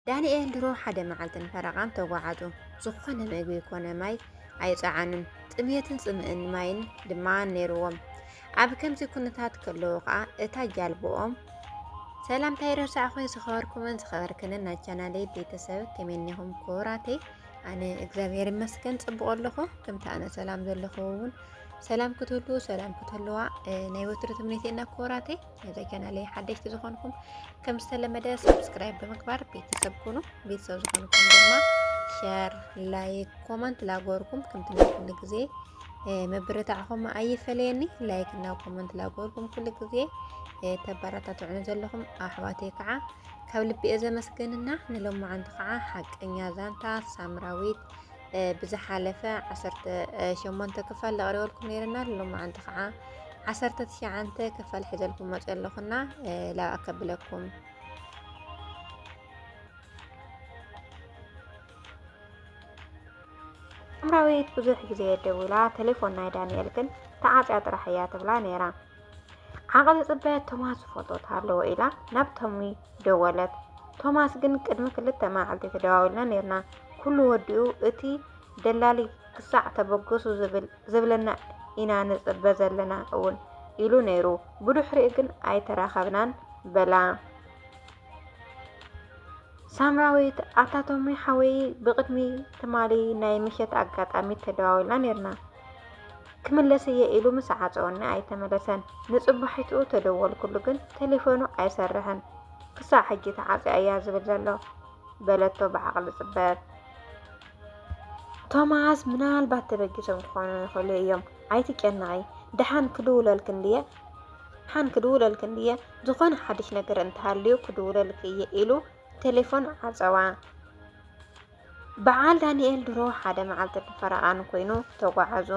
ዳንኤል ድሮ ሓደ መዓልትን ፈረቓን ተጓዓዙ። ዝኾነ መግቢ ኮነ ማይ ኣይጸዓኑን፣ ጥምየትን ጽምእን ማይን ድማ ነይርዎም። ኣብ ከምዚ ኩነታት ከለዉ ከኣ እታ ጃልቦኦም ሰላምታይ ረሳዕኹ ዝኸበርኩምን ዝኸበርክንን ናይ ቻናለይ ቤተሰብ ከመይ እኒኹም ክቡራተይ? ኣነ እግዚኣብሔር ይመስገን ጽቡቕ ኣለኹ። ከምቲ ኣነ ሰላም ዘለኹ እውን ሰላም ክትህሉ ሰላም ክትህልዋ ናይ ወትሩ ትምኒተይና ክቡራተይ። ነዚ ቻናለይ ሓደሽቲ ዝኾንኩም ከም ዝተለመደ ሰብስክራይብ ብምግባር ቤተሰብ ኩኑ። ቤተሰብ ዝኾንኩም ድማ ሸር፣ ላይክ፣ ኮመንት ላጎርኩም ከምቲ ናይ ኩሉ ግዜ መበረታዕኹም ኣይፈለየኒ። ላይክ እና ኮመንት ላጎርኩም ኩሉ ግዜ ተበረታትዑኒ ዘለኹም ኣሕዋተይ ከዓ ካብ ልቢ እየ ዘመስግንና። ንሎማዓንቲ ከዓ ሓቀኛ ዛንታ ሳምራዊት ብዝሓለፈ ዓሰርተ ሸሞንተ ክፋል ዘቕሪበልኩም ነይርና። ንሎማዓንቲ ከዓ ዓሰርተ ትሽዓንተ ክፋል ሕዘልኩም መፅ ኣለኹና ላብ ኣከብለኩም ኣምራዊት ብዙሕ ግዜ ደዊላ ቴሌፎን ናይ ዳንኤል ግን ተዓፅያ ጥራሕ እያ ትብላ ነይራ። ዓቕሊ ፅበት ቶማስ ዝፈልጦት ኣለዎ ኢላ ናብ ቶሚ ደወለት። ቶማስ ግን ቅድሚ ክልተ መዓልቲ ተደዋዊልና ነርና ኩሉ ወዲኡ እቲ ደላሊ ክሳዕ ተበገሱ ዝብል ዝብለና ኢና ንጽበ ዘለና እውን ኢሉ ነይሩ። ብድሕሪኡ ግን ኣይተራኸብናን በላ። ሳምራዊት ኣታ ቶሚ ሓወይ ብቅድሚ ትማሊ ናይ ምሸት ኣጋጣሚ ተደዋዊልና ነርና ክምለስ እየ ኢሉ ምስ ዓፀወኒ ኣይተመለሰን ንፅባሒትኡ ተደወልኩሉ ግን ቴሌፎኑ ኣይሰርሕን ክሳዕ ሕጂ ተዓፂ እያ ዝብል ዘሎ በለቶ ብዓቕሊ ፅበት ቶማስ ምናልባት ተበጊሶም ክኾኑ ይኽእሉ እዮም ኣይትጨነቒ ደሓን ክድውለልክን ድየ ሓን ክድውለልክን ድየ ዝኾነ ሓድሽ ነገር እንተሃልዩ ክድውለልክ እየ ኢሉ ቴሌፎን ዓፀዋ። በዓል ዳንኤል ድሮ ሓደ መዓልቲ ብፈረቓን ኮይኑ ተጓዓዙ።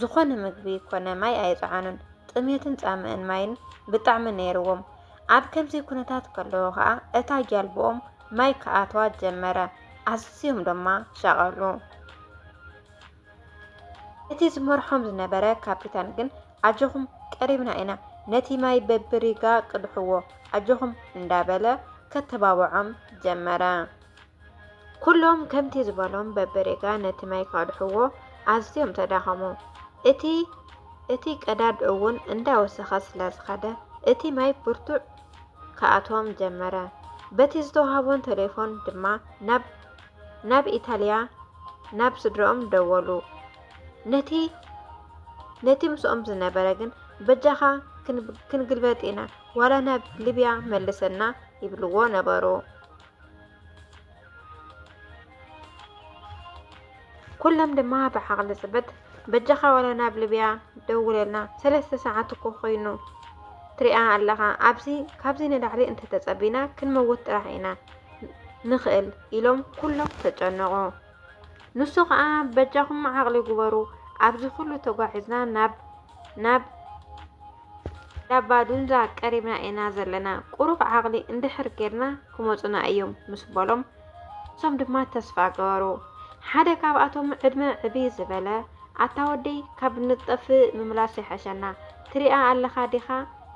ዝኾነ ምግቢ ኮነ ማይ ኣይፀዓኑን። ጥሜትን ፃምእን ማይን ብጣዕሚ ነይርዎም። ኣብ ከምዚ ኩነታት ከለዉ ከዓ እታ ጃልብኦም ማይ ክኣትዋ ጀመረ። ኣዝዮም ድማ ሸቐሉ። እቲ ዝመርሖም ዝነበረ ካፒታን ግን ኣጆኹም ቀሪብና ኢና፣ ነቲ ማይ በብሪጋ ቅድሕዎ ኣጆኹም እንዳበለ ከተባብዖም ጀመረ። ኩሎም ከምቲ ዝበሎም በብሪጋ ነቲ ማይ ካድሕዎ ኣዝዮም ተዳኸሙ። እቲ እቲ ቀዳድ እውን እንዳወሰኸ ስለዝኸደ እቲ ማይ ብርቱዕ ክኣትዎም ጀመረ። በቲ ዝተዋህቦን ቴሌፎን ድማ ናብ ኢታልያ ናብ ስድረኦም ደወሉ። ነቲ ነቲ ምስኦም ዝነበረ ግን በጃኻ ክንግልበጥ ኢና ዋላ ናብ ሊብያ መልሰና ይብልዎ ነበሩ። ኩሎም ድማ ብዓቕሊ ጽበት በጃኻ ዋላ ናብ ልብያ ደውለልና ሰለስተ ሰዓት እኮ ኮይኑ ትሪኣ ኣለኻ ኣብዚ ካብዚ ንላዕሊ እንተተጸቢና ክንመውት ጥራሕ ኢና ንኽእል ኢሎም ኩሎም ተጨነቑ። ንሱ ከዓ በጃኹም ዓቕሊ ግበሩ ኣብዚ ኩሉ ተጓዒዝና ናብ ናብ ናብ ባዱንዛ ቀሪብና ኢና ዘለና፣ ቁሩብ ዓቕሊ እንድሕር ጌርና ክመጹና እዮም ምስ በሎም፣ ንሶም ድማ ተስፋ ገበሩ። ሓደ ካብኣቶም ዕድመ ዕብይ ዝበለ፣ ኣታ ወደይ ካብ ንጠፍእ ምምላስ ይሐሸና፣ ትሪኣ ኣለኻ ዲኻ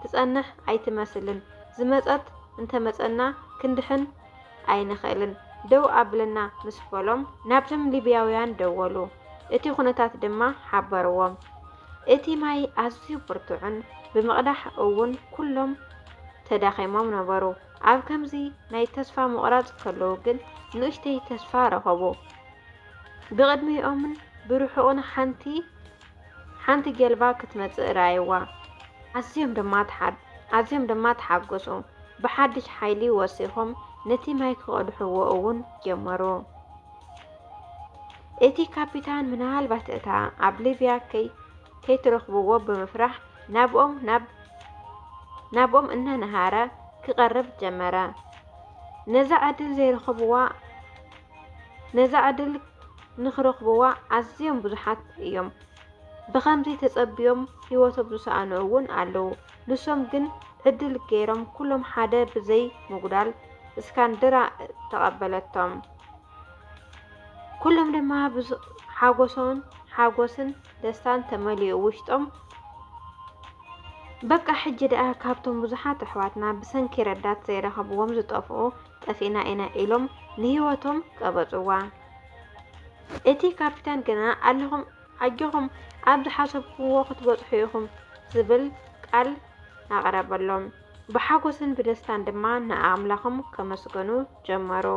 ትጸንሕ ኣይትመስልን፣ ዝመጸት እንተመጸና ክንድሕን ኣይንኽእልን፣ ደው ኣብለና ምስ በሎም፣ ናብቶም ሊብያውያን ደወሉ፣ እቲ ኩነታት ድማ ሓበርዎም። እቲ ማይ ኣዝዩ ብርቱዕን ብምቕዳሕ እውን ኩሎም ተዳኺሞም ነበሩ። ኣብ ከምዚ ናይ ተስፋ ምቑራጽ ከለዉ ግን ንእሽተይ ተስፋ ረኸቡ። ብቕድሚኦምን ብርሑቕን ሓንቲ ሓንቲ ጀልባ ክትመጽእ ረኣይዋ። ኣዝዮም ድማ ኣዝዮም ድማ ተሓጎሱ። ብሓድሽ ሓይሊ ወሲኾም ነቲ ማይ ክቐድሕዎ እውን ጀመሩ። እቲ ካፒታን ምናልባት እታ ኣብ ሊብያ ከይትረኽብዎ ብምፍራሕ ናብኦም እናነሃረ ክቐርብ ጀመረ። ነዛ ዕድል ዘይረኽብዋ ነዛ ዕድል ንኽረኽብዋ ኣዝዮም ብዙሓት እዮም። ብኸምዚ ተጸብዮም ህይወቶም ዝሰኣኑ እውን ኣለዉ። ንሶም ግን ዕድል ገይሮም ኩሎም ሓደ ብዘይ ምጉዳል እስካንድራ ተቐበለቶም። ኩሎም ድማ ሓጎሶን ሓጎስን ደስታን ተመሊኡ ውሽጦም በቃ ሕጂ ደኣ ካብቶም ብዙሓት ኣሕዋትና ብሰንኪ ረዳት ዘይረኸብዎም ዝጠፍኡ ጠፊእና ኢና ኢሎም ንህይወቶም ቀበፅዋ። እቲ ካፒታን ግና ኣለኹም ኣጆኹም ኣብ ዝሓሰብኩዎ ክትበፅሑ ኢኹም ዝብል ቃል ኣቕረበሎም። ብሓጐስን ብደስታን ድማ ንኣምላኾም ከመስገኑ ጀመሩ።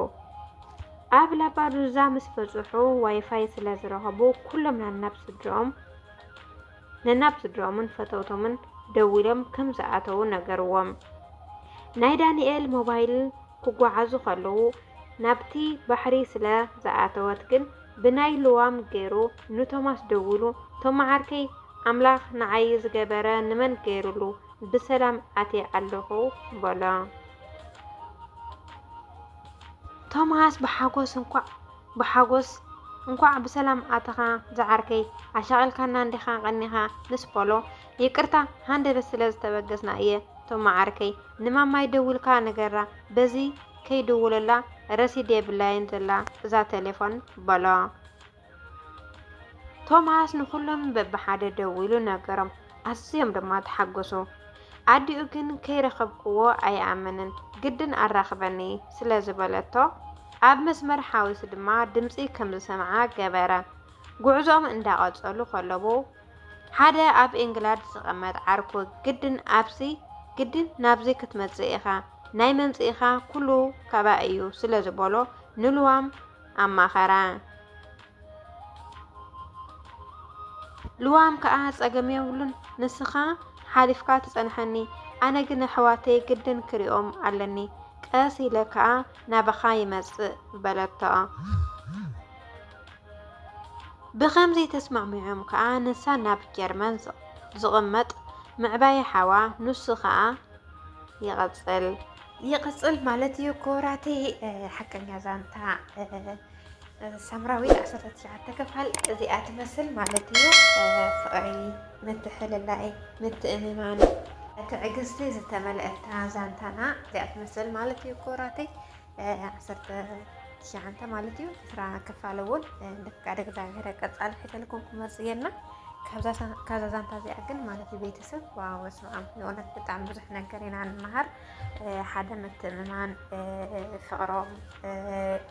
ኣብ ላባዱዛ ምስ በጽሑ ዋይፋይ ስለ ዝረኸቡ ኩሎም ነናብ ስድርኦም ነናብ ስድርኦምን ፈተውቶምን ደዊሎም ከም ዝኣተዉ ነገርዎም። ናይ ዳንኤል ሞባይል ክጓዓዙ ከለዉ ናብቲ ባሕሪ ስለ ዝኣተወት ግን ብናይ ልዋም ገይሩ ንቶማስ ደዊሉ ቶማ ዓርከይ ኣምላኽ ንዓይ ዝገበረ ንመን ገይሩሉ ብሰላም ኣትየ ኣለኹ በሎ። ቶማስ ብሓጎስ እንኳዕ ብሓጎስ እንኳዕ ብሰላም ኣተኻ ዝዓርከይ ኣሻቒልካና እንዲኻ ቀኒኻ ምስ በሎ ይቅርታ ሃንደበት ስለ ዝተበገስና እየ ቶማ ዓርከይ ንማማይ ደውልካ ንገራ በዚ ከይድውለላ ረሲድ የብላይን ዘላ እዛ ቴሌፎን በሎ ቶማስ ንኹሎም በብሓደ ደዊሉ ነገሮም፣ ኣዝዮም ድማ ተሓጎሱ። ኣዲኡ ግን ከይረኸብክዎ ኣይኣምንን፣ ግድን ኣራኽበኒ ስለ ዝበለቶ ኣብ መስመር ሓዊሱ ድማ ድምጺ ከም ዝሰምዓ ገበረ። ጉዕዞኦም እንዳቐጸሉ ከለዉ ሓደ ኣብ ኤንግላድ ዝቐመጥ ዓርኩ ግድን ኣብዚ ግድን ናብዚ ክትመጽእ ኢኻ ናይ መምጽኢኻ ኩሉ ካባይ እዩ ስለ ዝበሎ ንልዋም ኣማኸራ። ልዋም ከኣ ጸገም የብሉን ንስኻ ሓሊፍካ ትጸንሐኒ ኣነ ግን ኣሕዋተይ ግድን ክሪኦም ኣለኒ ቀስ ኢለ ከኣ ናባኻ ይመጽእ በለቶ። ብኸምዚ ተስማዕሚዖም ከኣ ንሳ ናብ ጀርመን ዝቕመጥ ምዕባይ ሓዋ ንሱ ከኣ ይቐፅል ይቕፅል ማለት እዩ ክቡራተይ ሓቀኛ ዛንታ ሳምራዊ ዓሰርተ ትሽዓተ ክፋል እዚኣ ትመስል ማለት እዩ። ፍቕሪ፣ ምትሕልላይ፣ ምትእምማን፣ ትዕግስቲ ዝተመልአታ ዛንታና እዚኣ ትመስል ማለት እዩ ክቡራተይ። ዓሰርተ ትሽዓንተ ማለት እዩ ዕስራ ክፋል እውን ብፍቃድ እግዚኣብሔር ቀፃሊ ሕተልኩም ክመፅ እየና ካብዛ ዛንታ እዚኣ ግን ማለት እዩ ቤተሰብ ዋው በስመ ኣብ ንእውነት ብጣዕሚ ብዙሕ ነገር ኢና ንመሃር ሓደ ምትእምማን ፍቅሮም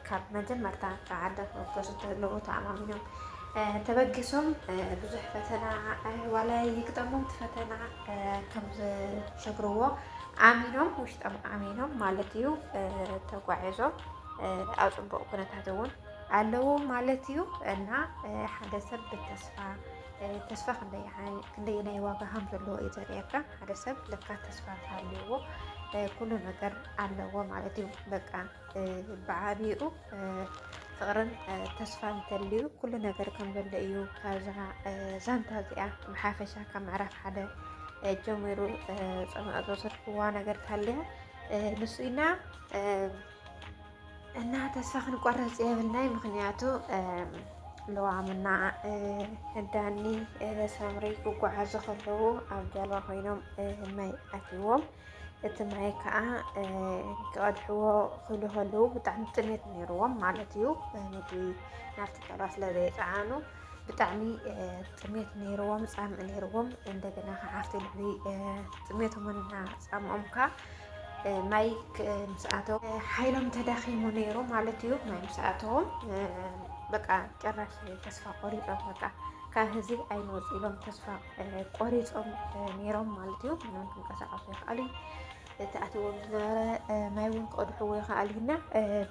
ካብ መጀመርታ ፃዓደ ክወገሱ ተለዎ ተኣማሚኖም ተበጊሶም ብዙሕ ፈተና ዋላ ይግጠሞም ፈተና ከም ዝሰግርዎ ኣሚኖም ውሽጦም ኣሚኖም ማለት እዩ ተጓዒዞም ኣብ ፅቡቅ ኩነታት እውን ኣለዎ ማለት እዩ እና ሓደ ሰብ ብተስፋ ተስፋ ክንደየናይ ዋጋ ከም ዘለዎ እዩ ዘርእየካ። ሓደ ሰብ ለካ ተስፋ እንተሃልዩዎ ኩሉ ነገር ኣለዎ ማለት እዩ። በቃ ብዓቢኡ ፍቕርን ተስፋን እንተልዩ ኩሉ ነገር ከም ዘሎ እዩ ካብዛ ዛንታ እዚኣ ብሓፈሻ ካብ ምዕራፍ ሓደ ጀሚሩ ፅምኦ ዝወሰድክዋ ነገር ታልያ ንሱ ኢና እና ተስፋ ክንቆረፅ የብልናይ ምክንያቱ ለዋምና ዳኒ ሰምሪ ክጓዓዙ ከለዉ ኣብ ጀልባ ኮይኖም ማይ ኣትዎም እቲ ማይ ከዓ ክቐድሕዎ ክብሉ ከለዉ ብጣዕሚ ጥሜት ነይርዎም ማለት እዩ። ምግቢ ናብቲ ጠባ ስለ ዘይፀዓኑ ብጣዕሚ ጥሜት ነይርዎም፣ ፃምእ ነይርዎም። እንደገና ከዓ ኣብቲ ልዕሊ ጥሜቶምና ፃምኦም ከዓ ማይ ምስኣተው ሓይሎም ተዳኺሙ ነይሩ ማለት እዩ። ማይ ምስኣተዎም በቃ ጭራሽ ተስፋ ቆሪፆም በቃ ካብ ህዝቢ ኣይንወፅ ኢሎም ተስፋ ቆሪፆም ነይሮም ማለት እዩ ምንም ክንቀሳቀሱ ይክኣሉ እቲ ኣትዎም ዝነበረ ማይ እውን ክቐድሕዎ ይክኣሉ እና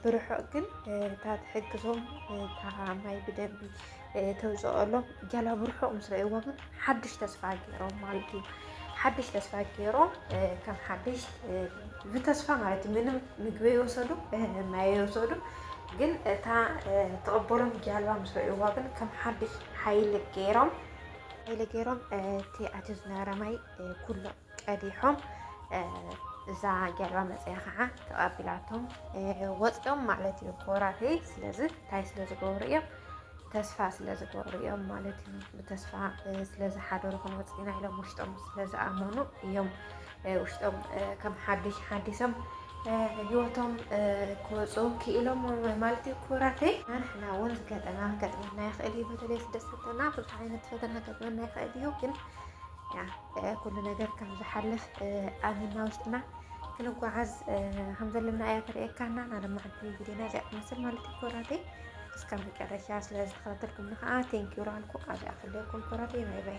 ብርሑቕ ግን እታ ትሕግዞም እታ ማይ ብደንቢ ተውፅኦሎም ገላ ብርሑቕ ምስ ረእይዎ ግን ሓድሽ ተስፋ ገይሮም ማለት እዩ ሓድሽ ተስፋ ገይሮም ከም ሓድሽ ብተስፋ ማለት እዩ ምንም ምግቢ የወሰዱ ማይ የወሰዱ ግን እታ ተቐበሎም ጃልባ ምስ ረእይዋ ግን ከም ሓድሽ ሓይሊ ገይሮም ኢለ ገይሮም እቲ ኣቲ ዝነበረ ማይ ኩሉ ቀዲሖም እዛ ጀልባ መፅያ ከዓ ተቐቢላቶም ወፂኦም ማለት እዩ ኮራተይ ስለዚ እንታይ ስለ ዝገብሩ እዮም ተስፋ ስለ ዝገብሩ እዮም ማለት እዩ ብተስፋ ስለ ዝሓደሩ ክንወፅኢና ኢሎም ውሽጦም ስለ ዝኣመኑ እዮም ውሽጦም ከም ሓድሽ ሓዲሶም ህይወቶም ክወፁ ክኢሎም ማለት እዩ ክቡራተይ ንሕና እውን ገጠና ገጥመና ይኽእል እዩ በተለይ ስደት ፈተና ብዙሕ ዓይነት ፈተና ገጥመና ይኽእል እዩ ግን ኩሉ ነገር ከም ዝሓልፍ ኣሚና ውሽጥና ክንጓዓዝ ከም ዘለና እያ ተርእየካና ናለማዕዲ ቪድዮና እዚኣ ትመስል ማለት እዩ ክቡራተይ እስከ መጨረሻ ስለዝተኸታተልኩም ንኸዓ ቴንኪዩ ራልኩ ኣብ ኣክለኩም ክቡራተይ ባይ ባይ